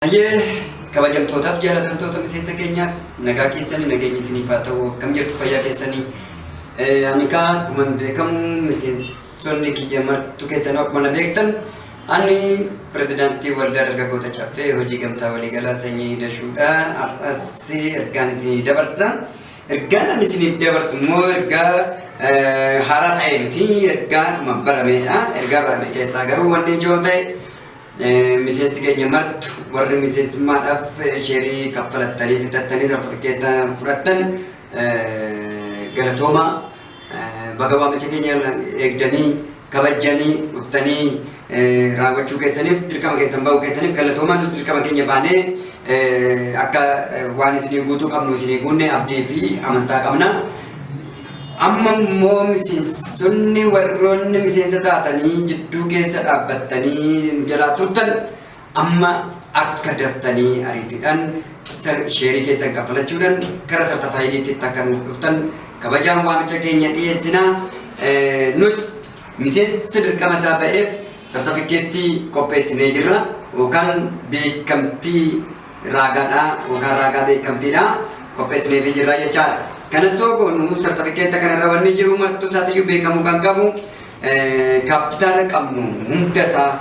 Hayyee kabajamtootaaf jaalatamtoota miseensa keenya nagaa keessanii nageenyi isiniif haa ta'u akkam jirtu fayyaa keessanii ani kaa akkuma beekamu miseensonni kiyya martu keessanuu akkuma na beektan ani pirezidaantii waldaa dargaggoota caffee hojii gamtaa waliigalaa sanyii dashuudha har'as ergaan isinii dabarsa. Ergaan ani isiniif dabarsu immoo ergaa haaraa ta'e miti. Ergaadhuma barameedha. Ergaa barame keessaa garuu wanni ijoo ta'e miseensi keenya martu warri miseensummaadhaaf sheerii kaffalattanii fitattanii sartifikeetta fudhattan galatoomaa. Baga waamicha keenya eegdanii kabajjanii dhuftanii raawwachuu keessaniif dirqama keessan ba'uu keessaniif galatoomaa nus dirqama keenya baanee akka waan isinii guutuu qabnu isinii guunne abdii fi amantaa qabna. Amma immoo miseensonni warroonni miseensa taatanii jidduu keessa dhaabbattanii nu jalaa turtan Amma akka daftanii ariitidhan sheerii keessan kaffalachuudhan gara sartafaayidiitti akka nuuf dhuftan kabajaan waamicha keenya dhiyeessina. Nus miseensa dirqama isaa ba'eef sartafikkeettii qopheessinee jirra yookaan beekamtii raagaadhaa yookaan raagaa beekamtiidhaa qopheessineefii jirra jechaadha. Kanas yoo goonu sartafikkeetta kanarra wanni jiru martuu isaatiyyuu beekamuu kan qabu Kaappitaala qabnu hunda isaa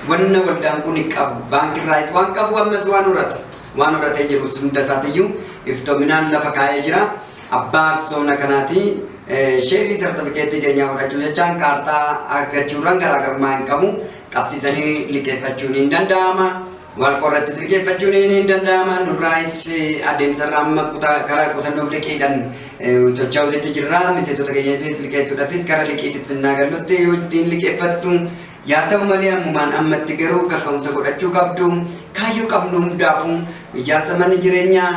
wanna waldaan kun qabu baankiirraayis waan qabu ammas waan horatu waan horatee jirus hunda isaatiyyuu iftoominaan lafa kaa'ee jira. Abbaa aksoona kanaati sheerii sartifikeetii keenyaa fudhachuu jechaan kaartaa argachuurraan garaagarummaa hin qabu qabsiisanii liqeeffachuun hin danda'ama. Wal qorratti sirgeeffachuun ni danda'ama. Nurraayis adeemsarra amma kutaa karaa qusannoof liqiidhaan socho'uutti jirra. Miseensota keenyafis liqeessuudhaafis gara liqiitti naa gallutti yoo ittiin liqeeffattu yaa ta'u malee ammumaan ammatti garuu kaka'umsa godhachuu qabdu. Kaayyoo qabnu hundaafuu ijaarsa manni jireenyaa,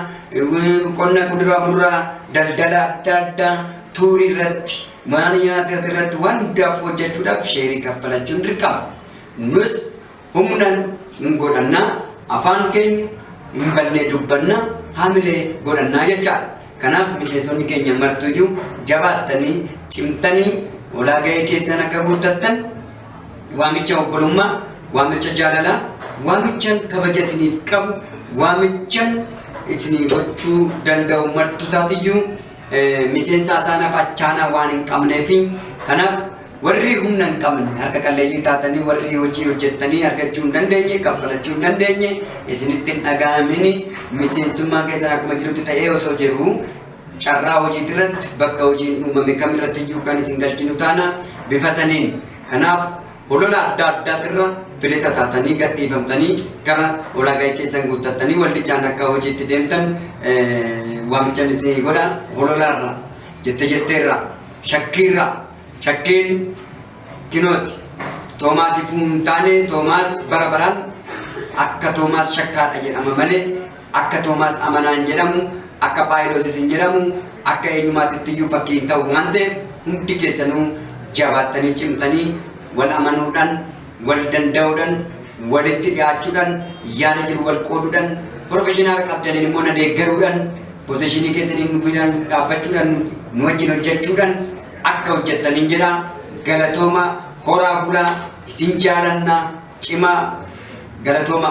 qonna kuduraa muduraa, daldala adda addaa, tuurii irratti, mana nyaataa irratti waan hundaaf hojjechuudhaaf sheerii kaffalachuun dirqama. Nus Humnan hin godhanna, afaan keenya hin banne dubbanna, hamilee godhanna jechaadha. Kanaaf miseensonni keenya martuyyuu jabaattanii, cimtanii olaa gahee keessan akka guuttattan waamicha obbolummaa, waamicha jaalalaa, waamichan kabaja isiniif qabu, waamichan isinii gochuu danda'u martusaatiyyuu miseensaa isaanaaf achaanaa waan hin qabnee fi kanaaf warri humna hin qabne harka qalleeyyii taatanii warri hojii hojjettanii argachuu hin dandeenye kaffalachuu hin dandeenye isinitti hin dhaga'amini miseensummaan keessan akkuma jirutti ta'ee osoo jiru carraa hojii irratti bakka hojiin uumame kam irratti iyyuu kan isin galchinu taana bifa saniin kanaaf holola adda addaatirra bilisa taatanii gadhiifamtanii gara ulaagaa keessan guuttattanii waldichaan akka hojiitti deemtan waamichan isin godha hololaarra jette jetteerra shakkiirra shakkiin kinooti toomaasiif hin taane toomaas bara baraan akka toomaas shakkaadha jedhama malee Akka Toomaas Amanaan jedhamu, akka Phaawuloos isin jedhamu, akka eenyumaatittiyyuu fakkii hin ta'u waan ta'eef hundi keessanuu jabaattanii cimtanii wal amanuudhaan, wal danda'uudhaan, walitti dhiyaachuudhaan, yaada jiru wal qooduudhaan, professional qabdaniin immoo na deeggaruudhaan, positionii keessaniin nu guyyaan dhaabbachuudhaan, nu wajjin hojjechuudhaan akka hojjettaniin jedha. Galatooma, horaa bulaa, isin jaalanna, cimaa, galatooma.